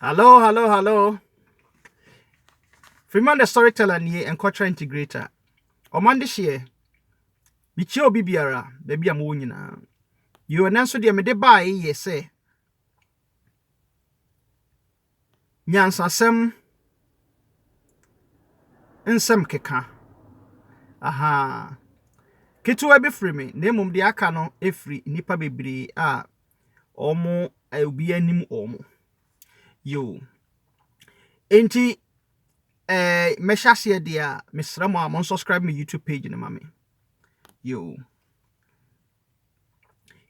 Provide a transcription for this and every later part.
Hallo, hallo, hallo. Freeman the Storyteller nie Nkɔtra Integrator. Ɔman de hyeɛ. Mekyia obi biara, baabi a mowɔ nyinaa. Yɛwɔ nan so deɛ mede baeɛ yɛ sɛ nyansasɛm nsɛm keka. Aha. Ketewa bi firi me, na mmom deɛ aka no firi nnipa bebree a wɔn a obiara nim wɔn. Yoo. Enti, eh, mɛhyɛ aseɛ deɛ a, mesrɛ mo a mo unsubscribe me YouTube page no ma me. Yoo.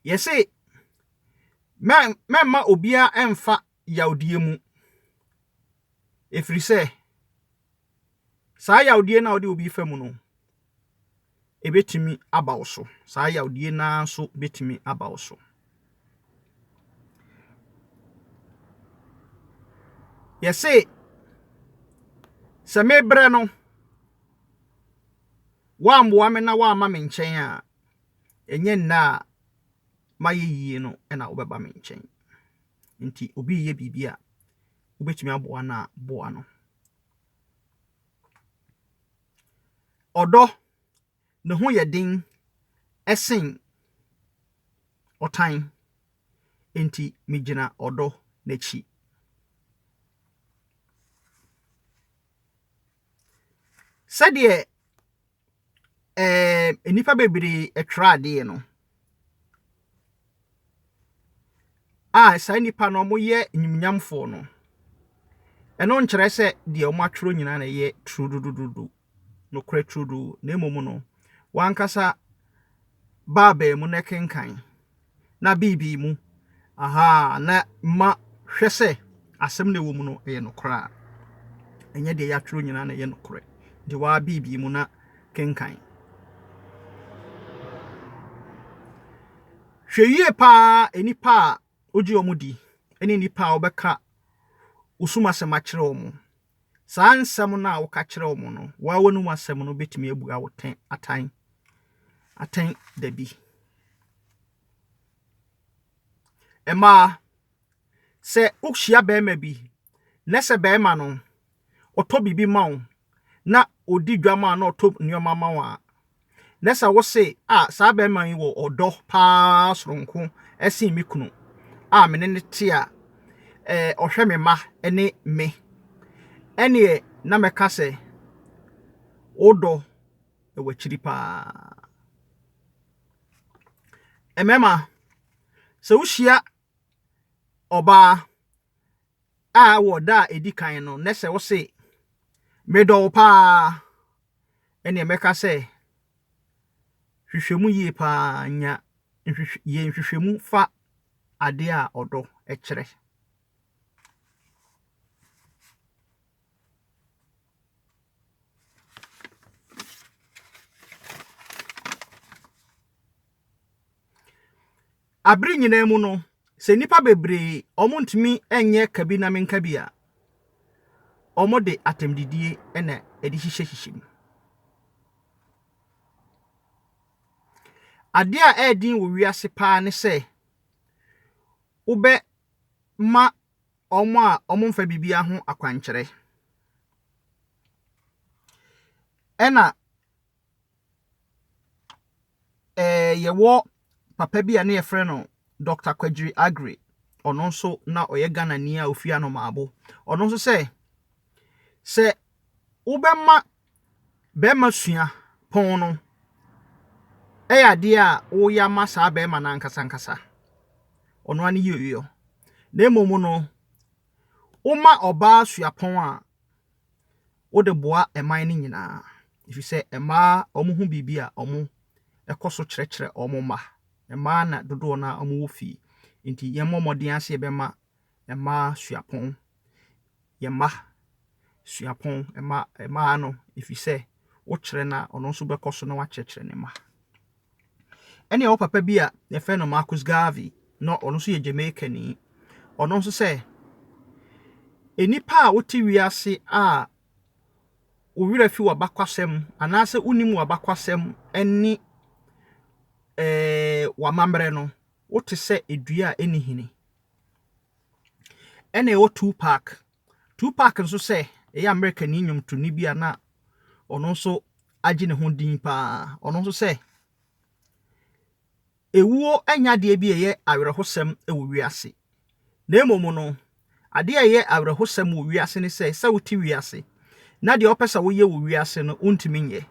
Yɛse, mɛmma obiara mfa yawdie mu. Ɛfiri sɛ, saa yawdie no a wode obi fa mu no, ɛbɛtumi aba wo so. Saa yawdie no ara nso bɛtumi aba wo so. Yɛse, sɛ mebrɛ no, woammoa me na woamma me nkyɛn a, ɛnyɛ nna a mayɛ yie no na wobɛba me nkyɛn. Nti obi reyɛ biribi a, wobɛtumi aboa no a, boa no. Ɔdɔ, ne ho yɛ den sen ɔtan, nti megyina ɔdɔ n'akyi. Sɛdeɛ ɛɛ nnipa bebree tra adeɛ no a saa nnipa no wɔyɛ animuonyamfoɔ no, ɛno nkyerɛ sɛ deɛ wɔatwerɛ nyinaa na ɛyɛ turudududu, nokorɛ turodoo, na mmom no, wɔn ankasa. baabae mu na kenkan, na biribi mu, ahaa, na ma hwɛ sɛ asɛm na ɛwɔ mu no yɛ nokorɛ a. Ɛnyɛ deɛ yɛatwerɛ nyinaa na ɛyɛ nokorɛ. Nti wo ara biribi mu na kenkan. Hwɛ yie pa ara nnipa a wogye wɔn di ne nnipa a wɔbɛka wo som asɛm akyerɛ wɔn Saa nsɛm no a woka kyerɛ wɔn no, wo ara w'anom asɛm no betumi abua wo tɛn atan atɛn da bi. Mmaa, sɛ wohyia barima bi na sɛ barima no ɔtɔ biribi ma wo na ɔdi dwa ma wo na ɔtɔ nneɛma ma wo a, na sɛ wo se, 'A, saa barima yi wɔ ɔdɔ paa soronko sen me kunu a me ne no te a ɔhwɛ me mma ne me, ɛnneɛ na mɛka sɛ wo dɔ wɔ akyiri paa. Mmarima, sɛ wohyia ɔbaa a wɔ da a ɛdi kan no, na sɛ wo se, 'Medɔ wo paa, ɛnneɛ mɛka sɛ hwehwɛ mu yie pa ara, nya nhwehwɛ, yɛ nhwehwɛmu fa adeɛ a ɔdɔ kyerɛ. Bere nyinaa mu no, sɛ nnipa bebree a wɔntumi nyɛ kabinamenkabi a, wɔde atɛmdidie na ɛde hyehyɛhyehyɛ mu. Adeɛ a ɛyɛ den wɔ wiase paa ne sɛ wobɛma wɔn a wɔmfa biribiara ho akwankyerɛ. Ɛna Ɛɛ yɛwɔ papa bi a ne yɛfrɛ no Dɔkta Kwegyiri Aggrey. Ɔno nso na ɔyɛ Ghanani a ɔfiri Anomabo. Ɔno nso sɛ, sɛ wobɛma barima sua pon no yɛ adeɛ a woreyɛ ama saa barima no ankasa ankasa. Ɔno ara ne yieyɔ. Na mmom no, woma ɔbaa sua pon a, wode boa ɛman no nyinaa efisɛ mmaa wɔn ho biribi a wɔn kɔ so kyerɛkyerɛ wɔn mma. Mmaa na dodoɔ no ara wɔwɔ fie nti yɛn mmɔ mmɔden ara sɛ yɛbɛma mmaa suapɔn, yɛn mma suapɔn, mma mmaa no efisɛ wokyerɛ no a ɔno nso bɛkɔ so na wakyerɛkyerɛ ne mma. Ɛne ɔwɔ papa bi a yɛfrɛ no Marcus Garvey, na ɔno nso yɛ Jamaicani. Ɔno nso sɛ, Nnipa a wote wiase a wo werɛ fi w'abakwasɛm anaasɛ wonim w'abakwasɛm ne eh, w'amammerɛ no, wote sɛ dua a ɛnni hini. Ɛne ɔwɔ Tupac, Tupac nso sɛ ɛyɛ Amerikani nnwomtoni bi a na ɔno nso agye ne ho din paa. Ɔno nso sɛ ewuo nyɛ adeɛ bi a ɛyɛ awerɛhosɛm wɔ wiase, na mmom no, adeɛ a ɛyɛ awerɛhosɛm wɔ wiase ne sɛ, sɛ wote wiase na deɛ wopɛ sɛ woyɛ wɔ wiase no, wontumi nyɛ.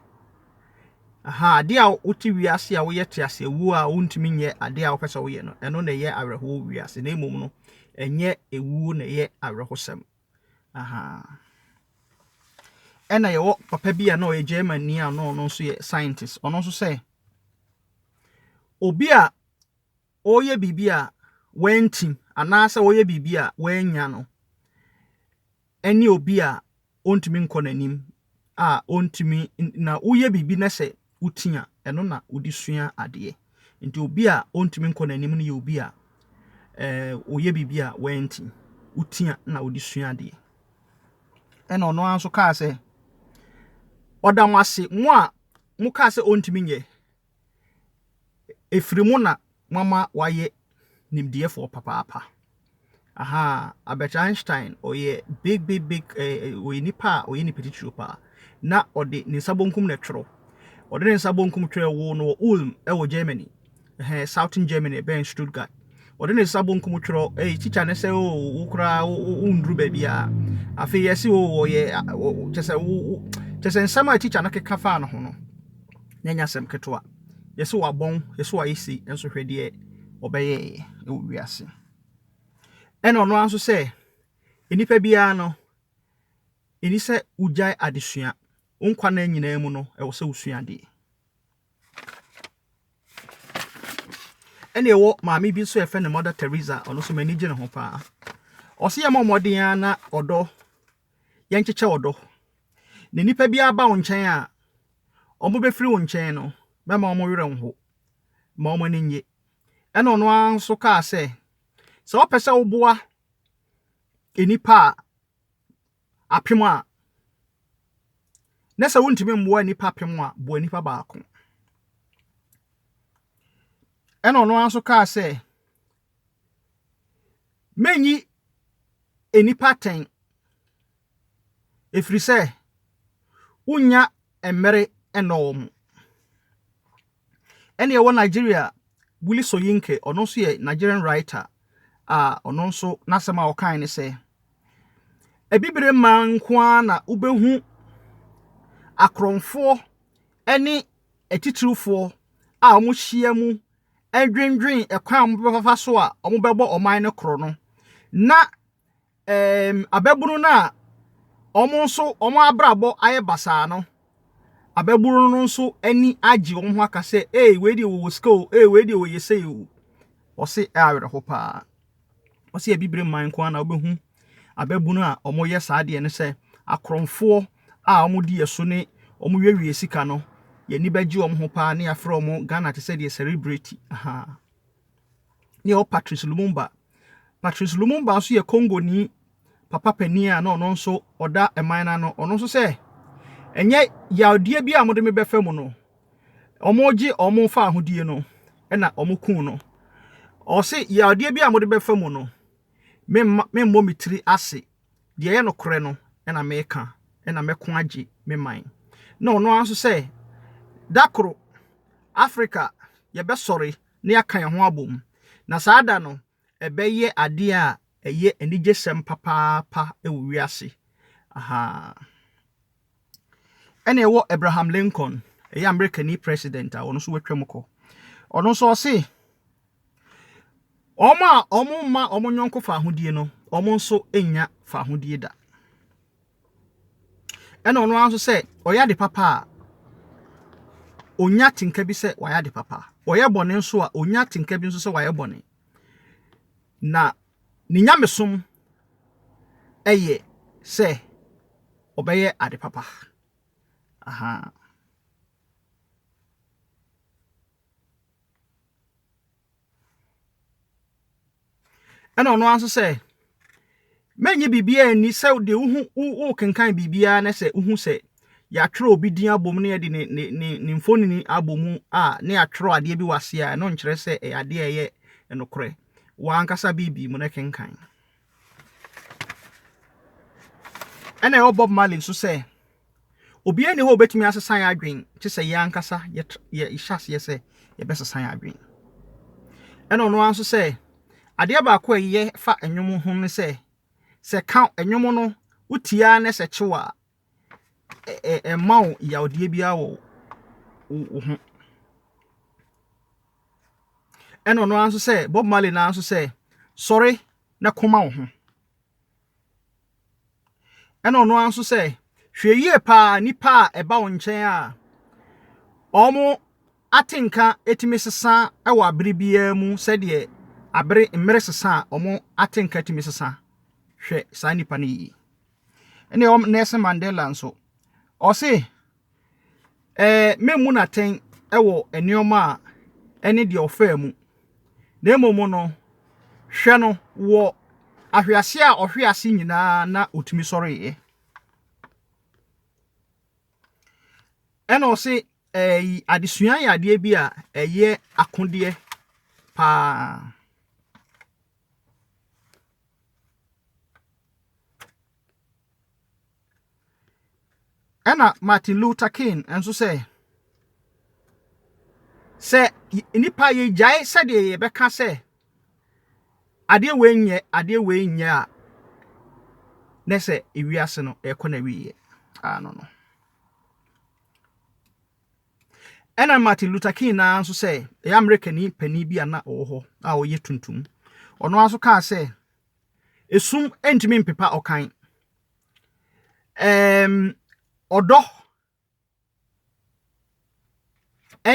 Aha, ade a wote wiase a woyɛ te ase awu a wontumi nyɛ ade a wopɛ sɛ woyɛ no, ɛno na ɛyɛ awerɛhow wiase, na mmom no, ɛnyɛ awuo na ɛyɛ awerɛhosɛm. Aha. Ɛna yɛwɔ papa bi a na ɔyɛ German ni a na ɔno nso yɛ scientist. Ɔno nso sɛ obi a ɔreyɛ biribi a wanti anaasɛ ɔreyɛ biribi a wannya no ne obi a ɔntumi nkɔ n'anim a ɔntumi na woyɛ biribi na sɛ woti a ɛno na wode sua adeɛ. Nti obi a ɔntumi nkɔ n'anim no yɛ obi a ɛɛ ɔyɛ biribi a wanti, woti a na wode sua adeɛ. Ɛna ɔno ara nso kaa sɛ, ɔda mo ase mo a mokaa sɛ ɔntumi nyɛ Ɛfiri mu na moama wɔayɛ nimdeɛfoɔ papaapa. Ahaa, Albert Einstein, ɔyɛ big big big ɛɛ ɔyɛ nipa a ɔyɛ nipa titiriw pa ara. Na ɔde ne nsa benkum na ɛtwerɛ. Ɔde ne nsa benkum twerɛɛ woo no wɔ Ulm wɔ Germany, ɛhɛɛ Southern Germany bɛn Stuttgart. Ɔde ne nsa bonkum twerɛ, Ei, tikya ne sɛ, oo, wo koraa, wo, wo, wonduru baabiara. Afei yɛse, oo, ɔyɛ, kyɛ sɛ, wo, wo, kyɛ sɛ nsɛm a tikya no keka faa ne ho no, na ɛnyɛ asɛm ketewa. Yɛse wabɔn, yɛse wayɛ sei, nso hwɛ deɛ ɔbɛyɛeɛ wɔ wiase. Ɛna ɔno ara nso sɛ, nnipa biara no, ɛni sɛ wogyae adesua. Wo nkwa nna nyinaa mu no, ɛwɔ sɛ wosua adeɛ. Ɛna ɛwɔ maame bi nso a yɛfrɛ no Mother Teresa ɔno nso m'ani gye ne ho paa ɔsɛ yɛmmɔ mmɔden ara na ɔdɔ yɛnkyekyɛ ɔdɔ na nnipa bi aba wo nkyɛn a wɔbɛfiri wo nkyɛn no mɛma wɔn werɛ nho ma wɔn ani nye ɛna ɔno ara nso kaa sɛ sɛ wɔpɛ sɛ woboa nnipa a apem a, na sɛ wontumi mmoa nnipa apem a, boa nnipa baako. Ɛna ɔno ara nso kaa sɛ, menyi nnipa atɛn, ɛfiri sɛ wonnya mmere nnɔ wɔn. Ɛna ɛwɔ Nigeria, Willie Soyinke, ɔno nso yɛ Nigerian writer a ɔno nso n'asɛm a ɔkae ne sɛ, Abibire man nko ara na wobɛhu akorɔmfoɔ ne atitirifoɔ a wɔhyia mu dwendwen kwan a wɔbɛfa so a wɔbɛbɔ ɔman no korɔ no, na Eem ababunu no a wɔn nso wɔn abrabɔ ayɛ basaa no, ababunu no nso ani agye wɔn ho aka sɛ, ee wei deɛ wɔwɔ sika o, ee wei deɛ wɔyɛ sei o. Wɔse ɛyɛ awerɛho paa. Wɔse abibire man nko ara na wobɛhu ababunu a wɔyɛ saa deɛ no sɛ akorɔmfoɔ a wɔdi yɛ so ne wɔn wiewie sika no, yɛn ani bɛgye wɔn ho paa na yɛafrɛ wɔn Ghana te sɛ deɛ celebrity. Ahaa. ne yɛwɔ Patrice Lumumba. Patrice Lumumba nso yɛ Kongoni papa panin a na ɔno nso ɔda man no ano. Ɔno nso sɛ ɛnyɛ yadeɛ bi a wɔde me bɛfa mu no, wɔgye wɔn fa ahodie no na wɔkum no. Ɔse yadeɛ bi a wɔde bɛfa mu no, memmɔ me tiri ase. Deɛ ɛyɛ nokorɛ no na meka na mɛko agye me man. Na ɔno ara nso sɛ da koro Africa yɛbɛsɔre. na yɛaka yɛn ho abom. Na saa da no, ɛbɛyɛ ade a ɛyɛ anigyesɛm papaapa wɔ wiase. Ahaa. Ɛna ɛwɔ Abraham Lincoln, ɛyɛ Amerikani president a ɔno nso watwam kɔ. Ɔno nso ɔse, wɔn a wɔmma wɔn yɔnko fahodie no, wɔn nso nnya fahodie da. Ɛna ɔno ara nso sɛ ɔyɛ ade papa a, onya atenka bi sɛ wayɛ ade papa. Ɔyɛ bɔne nso a, onya atenka bi nso sɛ wayɛ bɔne. Na ne nyamesom yɛ sɛ ɔbɛyɛ ade papa. Aha. Ɛna ɔno ara nso sɛ, Mɛnnye biribiara nni sɛ deɛ wohu wokenkan biribiara na sɛ wohu sɛ yɛatwerɛ obi din abom na yɛde ne ne ne ne mfonini abɔ mu a na yɛatwerɛ adeɛ bi wɔ aseɛ a ɛno nkyerɛ sɛ ɛyɛ adeɛ a ɛyɛ nokorɛ. W'ankasa Bible mu na kenkan. Ɛna ɛwɔ Bob Marley nso sɛ, Obiara nni hɔ a obetumi asesa yɛn adwene gye sɛ yɛn ankasa yɛhyɛ aseɛ sɛ yɛbɛsesa yɛn adwene. Ɛna ɔno ara nso sɛ, adeɛ baako a ɛyɛ fa nnwom ho ne sɛ, sɛ ka nnwom no wotie ara na sɛ kyew a, ɛmma wo yawdeɛ biara wɔ wo ho. Ɛna ɔno ara nso sɛ Bob Marley no ara nso sɛ sɔre na koma wo ho. Ɛna ɔno ara nso sɛ hwɛ yie paa nipa a ɛba wo nkyɛn a wɔn atenka tumi sesa wɔ abere biara mu sɛdeɛ abere mmere sesa a wɔn atenka tumi sesa hwɛ saa nipa no yie. Ɛna ɛwɔ Nelson Mandela nso. Ɔse, ɛɛ memmu no atɛn wɔ nneɛma a ɛne deɛ ɔfaa mu. Na mmom no, hwɛ no wɔ ahwease a ɔhwe ase nyinaa na ɔtumi sɔreeɛ. Ɛna ɔse, ɛyi adesua yɛ adeɛ bi a ɛyɛ akodeɛ paa. Ɛna Martin Luther King nso sɛ, sɛ nnipa yɛgyae sɛdeɛ yɛbɛka sɛ adeɛ wei nyɛ adeɛ wei nyɛ a na sɛ ewiase no ɛkɔ na wiyɛ ano no Ɛna Martin Luther King no ara nso sɛ ɛyɛ Amerikani panin bi a na ɔwɔ hɔ a ɔyɛ tuntum. Ɔno ara nso kaa sɛ, esum ntumi mpepa ɔkan. Ɛɛm, ɔdɔ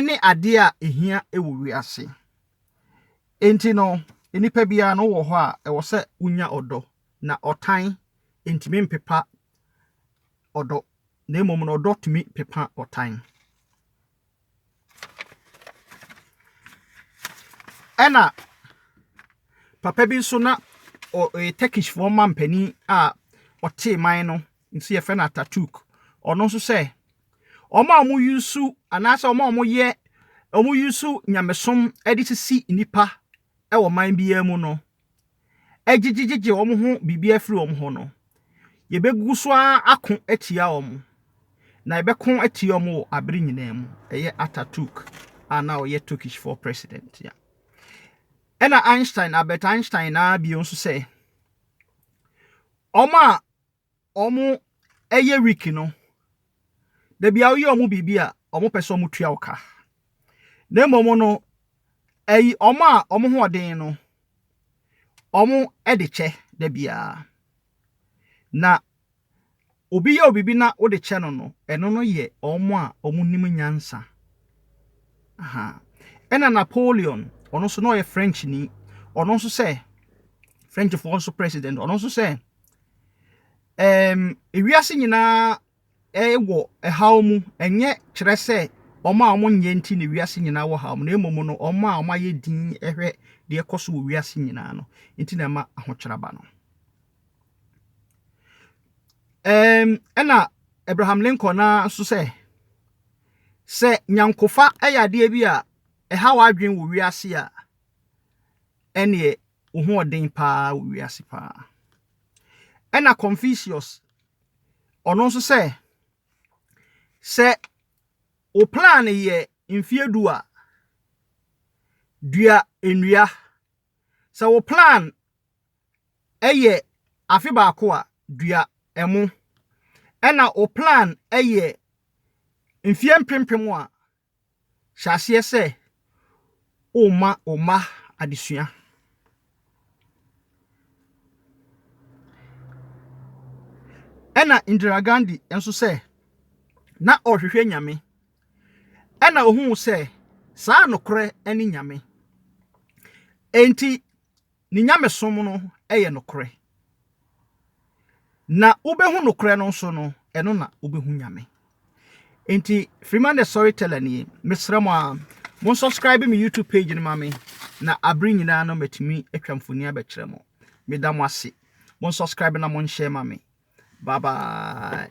ne adeɛ a ɛhia wɔ wiase. Enti no, nnipa biara no wɔ hɔ a ɛwɔ sɛ wonya ɔdɔ, na ɔtan ntumi mpepa ɔdɔ. Na mmom no ɔdɔ tumi pepa ɔtan. Ɛna papa bi nso na ɔyɛ Turkishfoɔ man panin a ɔtee man no nso yɛfrɛ no Ataturk. Ɔno nso sɛ wɔn a wɔn yusu anaasɛ wɔn a wɔn yɛ wɔn yusu nyamesom de sisi nnipa wɔ man biara mu no. gyegyegyegye wɔn ho biribi afiri wɔn hɔ no, yɛbɛgu so ara ako atia wɔn, na yɛbɛko atia wɔn wɔ abere nyinaa mu. Ɛyɛ Ataturk a na ɔyɛ Turkishfoɔ president a. Ɛna Einstein, Albert Einstein naa bio nso sɛ, wɔn a wɔyɛ week no, da biara woyɛ wɔn biribi a, wɔpɛ sɛ wɔtua wo ka. Na mmom no, ɛyi wɔn a wɔn ho ɔden no, wɔde kyɛ da biara. Na obi yɛ wo biribi na wode kyɛ no no, ɛno no yɛ wɔn a wɔnim nyansa. Aha. Ɛna Napoleon, ɔno nso na ɔyɛ Frenchni, ɔno nso sɛ, Frenchfoɔ nso president, ɔno nso sɛ, Ɛɛm, ewiase nyinaa wɔ ɛhaw mu. Ɛnyɛ kyerɛ sɛ wɔn a wɔnyɛ nti na wiase nyinaa wɔ haw mu, na mmom no, wɔn a wɔayɛ dinn hwɛ deɛ ɛkɔ so wɔ wiase nyinaa no nti na ɛma ahokyerɛ ba no. Ɛɛm, ɛna Abraham Lincoln na nso sɛ, sɛ nyankofa yɛ adeɛ bi a ɛha w'adwene wɔ wiase a, ɛneɛ wo ho ɔden paa wɔ wiase paa. Ɛna Confucius, ɔno nso sɛ, sɛ wo plan yɛ mfeɛ du a, dua nnua. Sɛ wo plan yɛ afe baako a, dua ɛmo. Ɛna wo plan yɛ mfeɛ mpempem a, Hyɛ aseɛ sɛ worema wo mma adesua. Ɛna Indira Gandhi nso sɛ na ɔrehwehwɛ Nyame. Ɛna ohuu sɛ saa nokorɛ ne Nyame. Enti Ne nyamesom no yɛ nokorɛ. Na wobɛhu nokorɛ no nso no, ɛno na wobɛhu Nyame. Enti Freeman the Storyteller nie. Mesrɛ mo a, mo subscribe me YouTube page no ma me na abere nyinaa no matumi atwa mfoni abɛkyerɛ mo. Meda mo ase. Mo subscribe na mo nhyɛ ma me. Bye bye.